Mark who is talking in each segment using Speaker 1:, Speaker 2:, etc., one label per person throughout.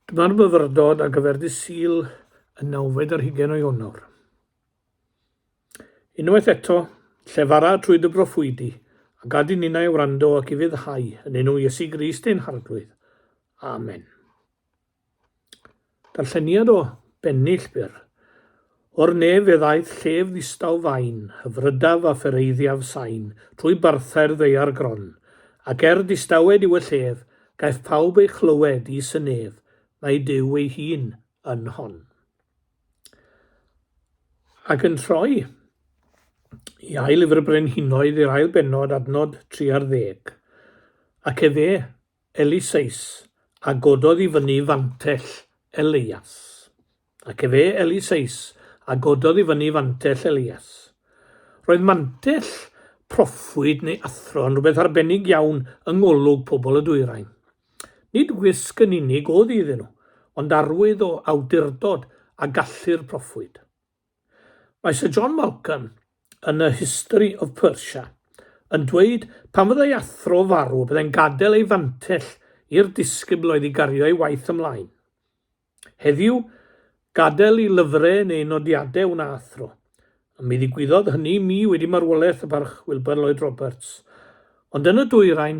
Speaker 1: Dyma'r myfyrdod ar gyfer dy Sul y nawfed ar hugain o Ionawr. Unwaith eto, llefara trwy dy broffwydi, a gad i ninnau wrando ac i fyddhau yn enw Iesu Grist ein Harglwydd. Amen. Darlleniad o bennill byr. O'r nef fe ddaeth llef ddistaw fain, hyfrydaf a phereiddiaf sain, trwy barthau'r ddaear gron, ac er distawed yw y llef, gaiff pawb ei chlywed, is y nef, mae Duw ei hun yn hon. Ac yn troi i ail lyfr y Brenhinoedd i'r ail bennod, adnod 30. Ac efe, Eliseus, a gododd i fyny fantell Elias. Ac efe, Eliseus, a gododd i fyny fantell Elias. Roedd mantell proffwyd neu athro yn rhywbeth arbennig iawn yng ngolwg pobl y dwyrain. Nid wisg yn unig oedd iddyn nhw, ond arwydd o awdurdod a gallu'r proffwyd. Mae Sir John Malcolm yn A History of Persia yn dweud pan fyddai athro farw y byddai'n gadael ei fantell i'r disgybl oedd i gario ei waith ymlaen. Heddiw, gadael i lyfrau neu nodiadau wna athro. Mi ddigwyddodd hynny i mi wedi marwolaeth y Barch Wilburn Lloyd Roberts. Ond yn y dwyrain,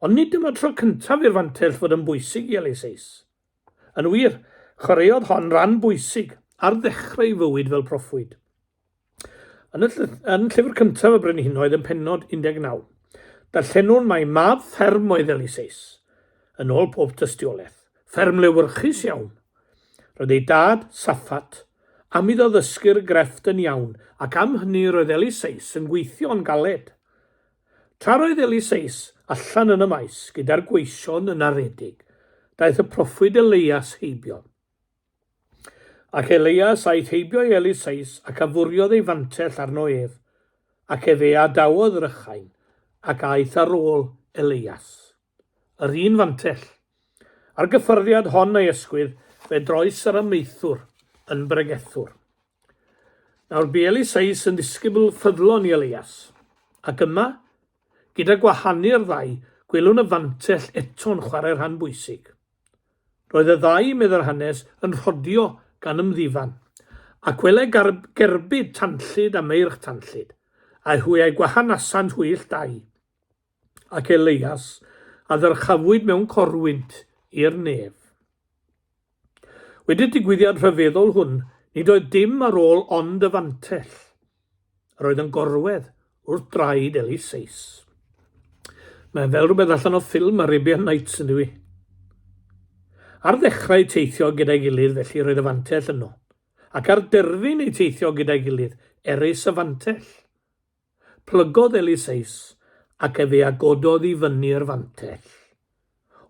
Speaker 1: Ond nid dyma'r tro cyntaf i'r fantell fod yn bwysig i Ellis Ace. Yn wir, chwaraeodd hon ran bwysig ar ddechrau ei fywyd fel proffwyd. Yn y yn llyfr cyntaf y Brenhinoedd yn pennod 19, darllenwn mai mab fferm oedd Ellis Ace, yn ôl pob tystiolaeth, fferm lewyrchus iawn. Roedd ei dad, Saffat, am iddo ddysgu'r grefft yn iawn ac am hynny roedd Ellis Ace yn gweithio yn galed. Tra roedd Eliseus allan yn y maes gyda'r gweision yn aredig, daeth y proffwyd Elias heibio. Ac Elias aeth heibio i Eliseus ac afuriodd ei fantell arno ef, ac efe a dawodd rychain, ac aeth ar ôl Elias. Yr un fantell. A'r gyffyrddiad hon ei ysgwydd, fe droes yr amaethwr yn bregethwr. Nawr bu Eliseus yn ddisgybl ffyddlon i Elias. Ac yma, gyda gwahanu'r ddau, gwelwn y fantell eto'n chwarae rhan bwysig. Roedd y ddau, meddai'r hanes, yn rhodio gan ymddifan, ac wele gerbyd tanllyd a meirch tanllyd, a hwy a'i gwahanasant hwyll dau. ac Eleias, a ddyrchafwyd mewn corwynt i'r nef. Wedi'r digwyddiad rhyfeddol hwn, nid oedd dim ar ôl ond y fantell, yr oedd yn gorwedd wrth draed Eliseus. Mae fel rhywbeth allan o ffilm Arabian Nights yn dwi. Ar ddechrau teithio gyda'i gilydd felly roedd y fantell yno, ac ar derfyn ei teithio gyda'i gilydd, erys y fantell. Plygodd Eliseus ac efe a gododd i fyny'r fantell.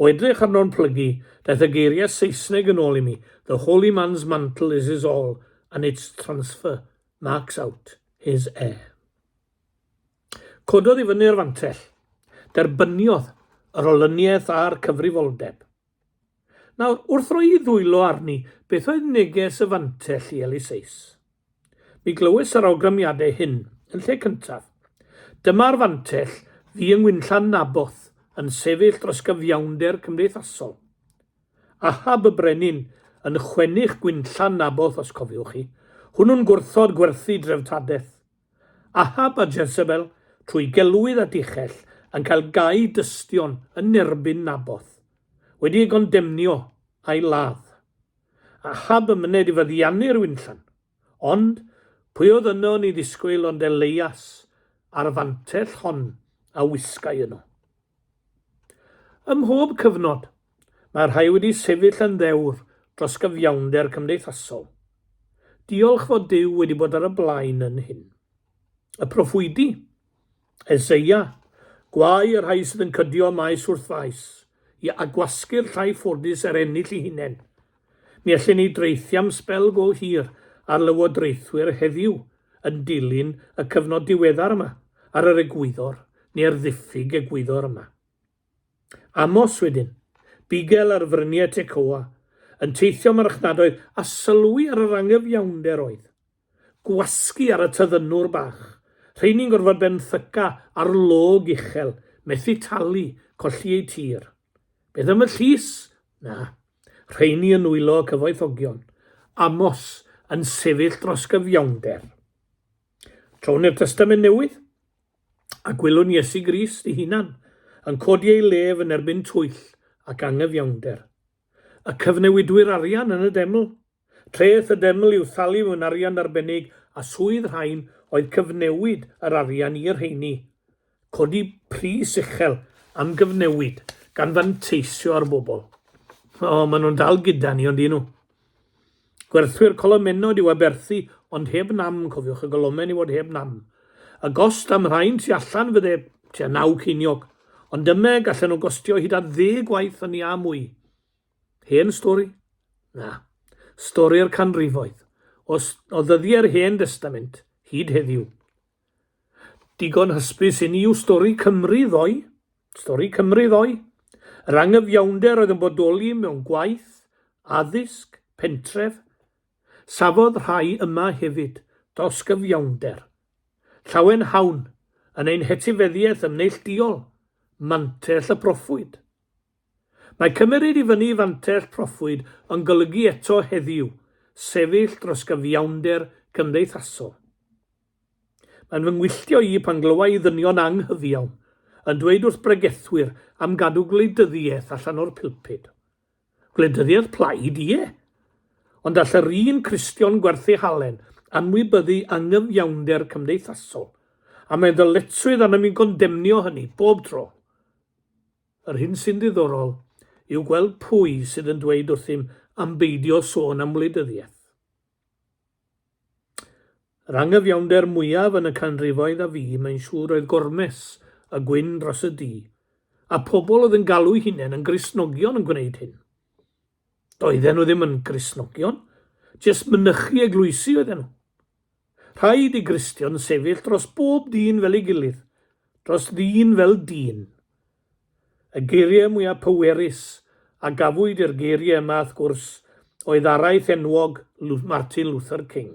Speaker 1: O edrych arno'n plygu, daeth y geiriau Saesneg yn ôl i mi, The holy man's mantle is his all and its transfer marks out his heir. Cododd i fyny'r fantell. Derbyniodd yr olyniaeth a'r cyfrifoldeb. Nawr, wrth roi i ddwylo arni, beth oedd neges y fantell i Eliseus? Mi glywais yr awgrymiadau hyn, yn lle cyntaf. Dyma'r fantell ddu yng Ngwynllan Naboth yn sefyll dros gyfiawnder cymdeithasol. Ahab y brenin yn chwennych Gwynllan Naboth os cofiwch chi, hwnnw'n gwrthod gwerthu dreftadaeth. Ahab a Jezebel, trwy gelwydd a dichell, yn cael gau dystion yn erbyn Naboth, wedi ei gondemnio a'i ladd. a chab yn myned i feddiannu'r winllan. Ond, pwy oedd yno yn ei ddisgwyl ond Elias a'r fantell hon a wisgai yno. Ym mhob cyfnod, mae rhai wedi sefyll yn ddewr dros gyfiawnder cymdeithasol. Diolch fod Duw wedi bod ar y blaen yn hyn. Y proffwydi? Eseia, Gwae y rhai sydd yn cydio maes wrth faes, i agwasgu'r llai ffodus er ennill ei hunain. Mi allwn ni draethu am sbel go hir ar lywodraethwyr heddiw yn dilyn y cyfnod diweddar yma, ar yr egwyddor, neu'r ddiffyg egwyddor yma. Amos wedyn, bugel ar fryniau Tecoa, yn teithio marchnadoedd a sylwi ar yr anghyfiawnder oedd. Gwasgu ar y tyddynwr bach. Rheiny'n gorfod benthyca ar log uchel, methu talu, colli eu tir. Beth am y llys? Na. Rheiny yn nwylo cyfoethogion. Amos yn sefyll dros gyfiawnder. Trown i'r Testament Newydd, a gwelwn Iesu Grist ei hunan yn codi ei lef yn erbyn twyll ac angyfiawnder. Y cyfnewidwyr arian yn y deml, Treth y deml i'w thalu mewn arian arbennig a swydd rhain oedd cyfnewid yr arian i'r rheini, codi pris uchel am gyfnewid gan fanteisio ar bobl. O, maen nhw'n dal gyda ni, ond un nhw. Gwerthwyr colomennod yw aberthu, ond heb nam, cofiwch y golomen i fod heb nam. Y gost am rhain tu allan fydde tua naw ceiniog, ond dyma gallen nhw gostio hyd at ddeg gwaith hynny a mwy. Hen stori? Na. Stori'r canrifoedd, o, o ddyddiau'r Hen Destament, hyd heddiw. Digon hysbys inni yw stori Cymru ddoe. Stori Cymru ddoe. Yr angyfiawnder oedd yn bodoli mewn gwaith, addysg, pentref. Safodd rhai yma hefyd, dosgyfiawnder. Llawen hawn, yn ein hetifeddiaeth yn neillduol, mantell y proffwyd. Mae cymmeryd i fyny fantell proffwyd yn golygu eto heddiw sefyll dros gyfiawnder cymdeithasol. Mae'n fy ngwylltio i pan glywa i ddynion anghyfiawn yn dweud wrth bregethwyr am gadw gwleidyddiaeth allan o'r pulpud. Gwleidyddiaeth plaid, ie! Ond all yr un Cristion gwerthu halen anwybyddu angyfiawnder cymdeithasol, a mae ddyletswydd arnom i gondemnio hynny bob tro. Yr hyn sy'n ddiddorol yw gweld pwy sydd yn dweud wrthym am beidio sôn am wleidyddiaeth. Yr angyfiawnder mwyaf yn y canrifoedd a fu, mae'n siŵr, oedd gormes y gwyn dros y du, a phobl oedd yn galw'u hunain yn Gristnogion yn gwneud hyn. Doedden nhw ddim yn Gristnogion, jyst mynychu eglwysi oedden nhw. Rhaid i Gristion sefyll dros bob dyn fel ei gilydd, dros ddyn fel dyn. Y geiriau mwyaf pwerus a gafwyd i'r geiriau yma, wrth gwrs, oedd araith enwog Martin Luther King.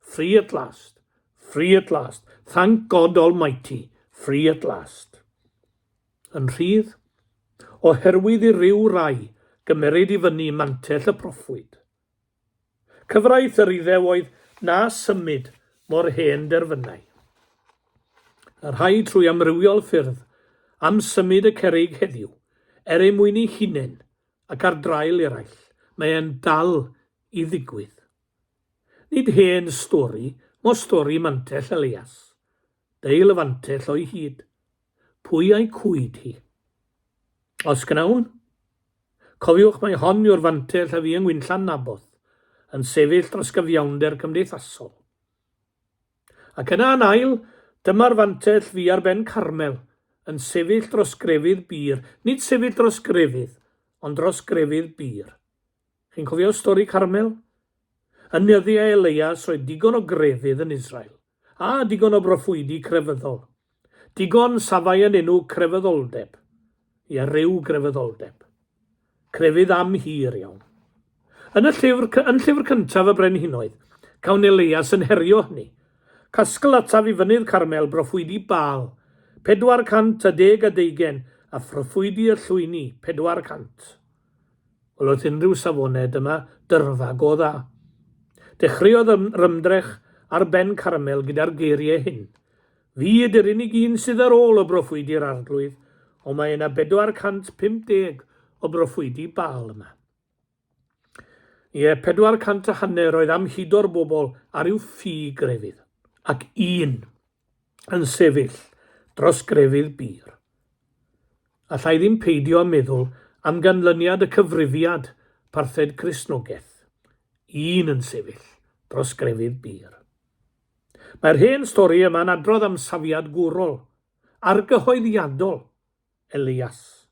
Speaker 1: Free at last. Free at last. Thank God Almighty. Free at last. Yn rhydd, oherwydd i ryw rai gymeryd i fyny mantell y proffwyd. Cyfraith yr iddew oedd na symud mor hen derfynau. Y rhai trwy amrywiol ffyrdd am symud y cerig heddiw, er ei mwyn ei hunain ac ar draul eraill, mae e'n dal i ddigwydd. Nid hen stori, mo stori Mantell Elias. Beil y fantell o'i hyd. Pwy a'i cwyd hi? Os gnawn? Cofiwch mai hon yw'r fantell a fu yng Ngwynllan Naboth, yn sefyll dros gyfiawnder cymdeithasol. Ac yna yn ail, dyma'r fantell fu ar ben Carmel, yn sefyll dros grefydd bur, nid sefyll dros grefydd, ond dros grefydd bur. Chi'n cofio stori Carmel? Yn nyddiau Elias roedd digon o grefydd yn Israel, a digon o broffwydi crefyddol. Digon safai yn enw crefyddoldeb. Ia, ryw grefyddoldeb. Crefydd am hir iawn. Yn y llyfr, yn llyfr cyntaf y brenhinoedd, cawn Elias yn herio hynny. Casgl ataf i fynydd Carmel broffwydi Baal, 410 a deugen, a phroffwydi y llwyni, 400. Wel wrth unrhyw safonau dyma dyrfa go dda. Dechreuodd yr ymdrech ar ben Carmel gyda'r geiriau hyn, Fi ydy'r unig un sydd ar ôl o broffwydi'r Arglwydd, ond mae yna 450 o broffwydi Baal yma. Ie, 400 a hanner oedd am hudo'r bobl ar i'w ffi grefydd, ac un yn sefyll dros grefydd bur. Alla i ddim peidio â meddwl am ganlyniad y cyfrifiad parthed Cristnogaeth, un yn sefyll dros grefydd bur. Mae'r hen stori yma'n adrodd am safiad gwrol, argyhoeddiadol, Elias.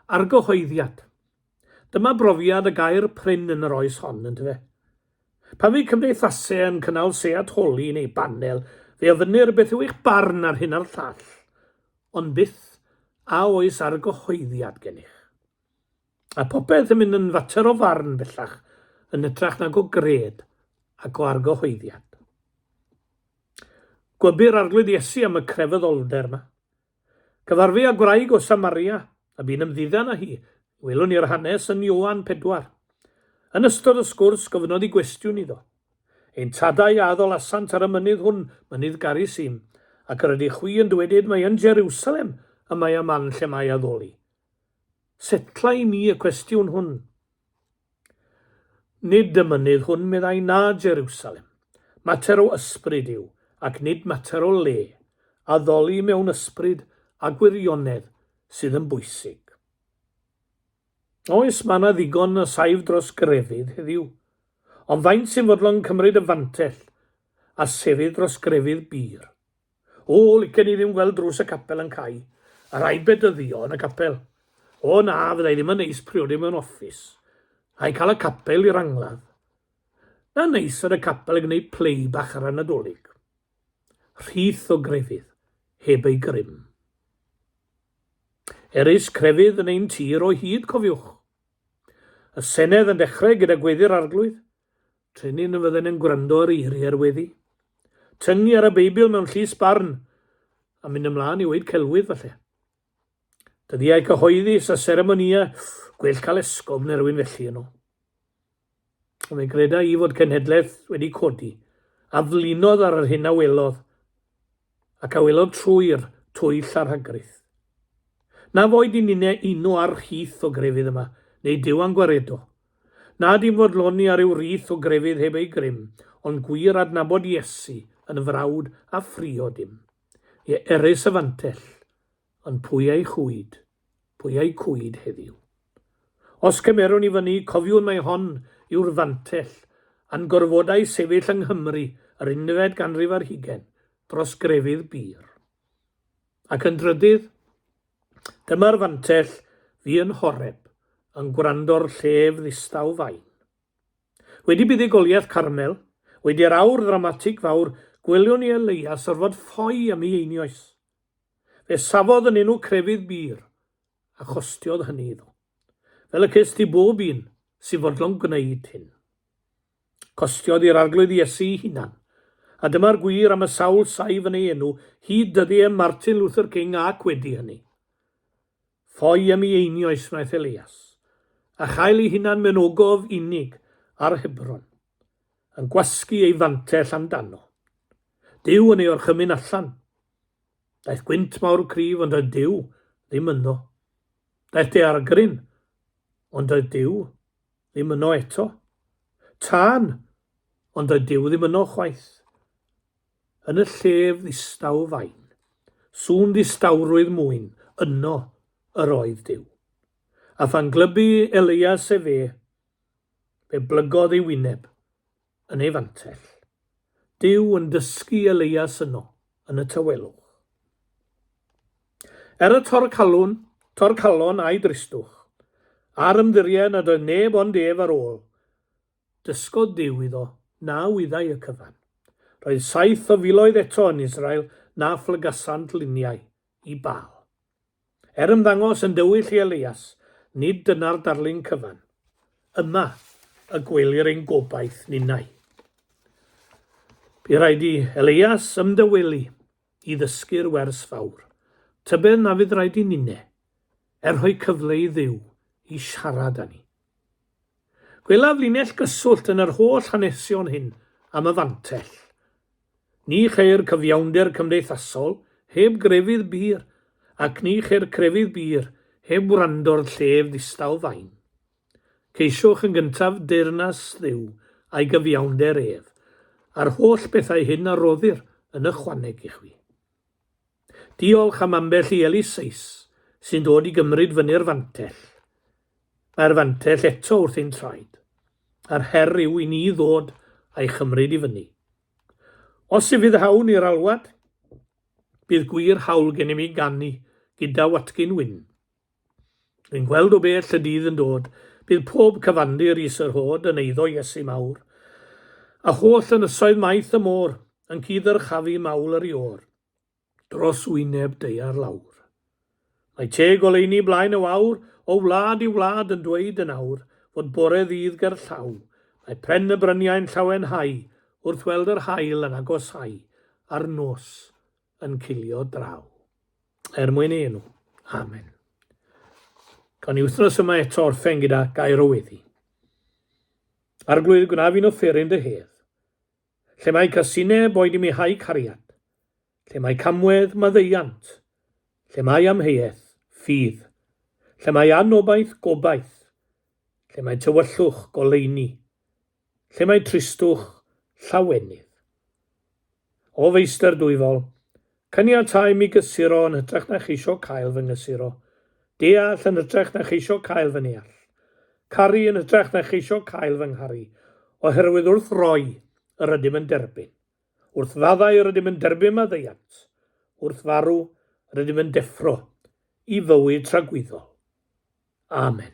Speaker 1: Argyhoeddiad. Dyma brofiad y gair prin yn yr oes hon, yndyfe? Pan fydd cymdeithasau yn cynnal seat holi neu banel, fe ofynnir beth yw eich barn ar hyn a'r llall, ond byth a oes argyhoeddiad gennych. A popeth yn mynd yn fater o farn bellach, yn hytrach nag o gred ac o argyhoeddiad. Gwybir arglwydd Iesu am y crefyddoldeb yma. Cyfarfu â gwraig o Samaria, a bu'n ymddiddan â hi. Welwn ni'r hanes yn Ioan pedwar. Yn ystod y sgwrs, gofynnodd i gwestiwn iddo. Ein tadau a addolasant ar y mynydd hwn, mynydd Garisim, ac yr ydych chwi yn dywedyd mai yn Jerusalem y mae y man lle mae addoli? Setllai ni y cwestiwn hwn. Nid y mynydd hwn, meddai, na Jerusalem. Mater o ysbryd yw, ac nid mater o le. Addoli mewn ysbryd a gwirionedd sydd yn bwysig. Oes, mae yna ddigon o saif dros grefydd heddiw, ond faint sy'n fodlon cymryd y fantell a sefyll dros grefydd bur? O, licen i ddim gweld drws y capel yn cau, yr aibed dyddio yn y capel. O na, fyddai ddim yn neis priodi mewn offis, a'i cael y capel i'r angladd. Na neis yn y capel yn gwneud play bach ar y Nadolig. Rhith o grefydd, heb ei grym. Erys crefydd yn ein tir o hyd, cofiwch. Y Senedd yn dechrau gyda gweddi'r Arglwydd, Trinin y fydden yn gwrando ar eiriau'r weddi. Tyngu ar y Beibl mewn llys barn a mynd ymlaen i weid celwydd falle. Dyddiau cyhoeddus a seremonia, gwell cael esgob neu rhywun felly yno. Ond fe greda i fod cenhedlaeth wedi codi a flinodd ar yr hyn a welodd ac a welodd trwy'r twyll a'r hagryth. Na foed i ninne uno ar chith o grefydd yma, neu Dyw a'n gwaredo, Na dim fodloni ar ryw rith o grefydd heb ei grym, ond gwir adnabod Iesu yn frawd a phriod i'm. Ie, erys y fantell, ond pwy a'i chwyd, pwy a'i cwyd heddiw? Os cymerwn i fyny, cofiwn mai hon yw'r fantell a'n gorfodai sefyll yng Nghymru yr unfed ganrif ar hugain, dros grefydd bur. Ac yn drydydd, Dyma'r fantell fi yn Horeb, yn gwrando'r llef ddistaw fain. Wedi buddugoliaeth Carmel, wedi'r awr ddramatig fawr, gwelion i Elias orfod ffoi am ei einioes. Fe safodd yn enw crefydd bur, a chostiodd hynny iddo. Fel y cest i bob un sy'n fodlon gwneud hyn. Costiodd i'r Arglwydd Iesu'i hunan. A dyma'r gwir am y sawl saif yn ei enw hyd dyddie Martin Luther King ac wedi hynny. Ffoi am i einioes wnaeth Elias, a chael ei hunan mewn ogof unig ar Hebron, yn gwasgu ei fantell amdano. Duw yn ei orchymyn allan. Daeth gwynt mawr y cryf ond doedd Duw ddim ynddo. Daeth daeargryn ond doedd Duw Ddim yno eto. Tân! Ond doedd Duw ddim yno chwaith. Yn y llef ddistaw fain, sŵn ddistawrwydd mwyn, yno yr oedd Duw. A phan glybu Elias efe, fe blygodd ei wyneb, yn ei fantell, Duw yn dysgu Elias yno yn y tawelwch. Er y torcalwn, torcalon a'i dristwch, a'r ymddiried nad oedd neb ond ef ar ôl, dysgodd Duw iddo na wyddai y cyfan. Roedd saith o filoedd eto yn Israel na phlygasant luniau i Baal. Er ymddangos yn dywyll i Elias, nid dyna'r darlun cyfan. Yma y gwelir ein gobaith ninnau. Bu rhaid i Elias ymdawelu i ddysgu'r wers fawr, tybed na fydd rhaid i ninne, er rhoi cyfle i Dduw i siarad â ni. Gwelaf linell gyswllt yn yr holl hanesion hyn am y fantell. Ni cheir cyfiawnder cymdeithasol heb grefydd bur, ac ni cheir crefydd bur heb wrando'r llef ddistaw fain. Ceisiwch yn gyntaf deyrnas Dduw a'i gyfiawnder ef, a'r holl bethau hyn a roddir yn ychwaneg i chwi. Diolch am ambell i Elis Seis sy'n dod i gymryd fyny'r fantell. Mae'r fantell eto wrth ein traed. Yr her yw i ni ddod a'i chymryd i fyny. Os ufuddhawn i'r alwad, bydd gwir hawl gennym i ganu gyda Watkin Wyn. Yn gweld o bell y dydd yn dod, bydd pob cyfandir i Sir Hod yn eiddo Iesu mawr, a holl ynysoedd maith y môr yn cyd-ddyrchafu mawl yr Iôr. dros wyneb daear lawr. Mae teg oleuni blaen y wawr, o wlad i wlad yn dweud yn awr fod bore ddydd gerllaw, mae pren y bryniau'n llawenhau wrth weld yr haul yn agosáu a'r nos yn cilio draw. Er mwyn ei enw. Amen. Gawn ni wythnos yma eto orffen gyda gair o weddi. Arglwydd, gwna fi'n offeryn dy hedd, Lle mae casineb oed i mi hau cariad, lle mae camwedd maddeuant, lle mae amheuaeth, ffydd, lle mae anobaith, gobaith, lle mae tywyllwch, goleuni, lle mae tristwch, llawenydd. O Feistr Dwyfol, Caniatáu mi gysuro yn hytrach na cheisio cael fy nghysuro. Deall yn hytrach na cheisio cael fy neall. Caru yn hytrach na cheisio cael fy ngharu. Oherwydd wrth roi, yr ydym yn derbyn. Wrth faddau yr ydym yn derbyn maddeuant. Wrth farw, yr ydym yn deffro i fywyd tragwyddol. Amen.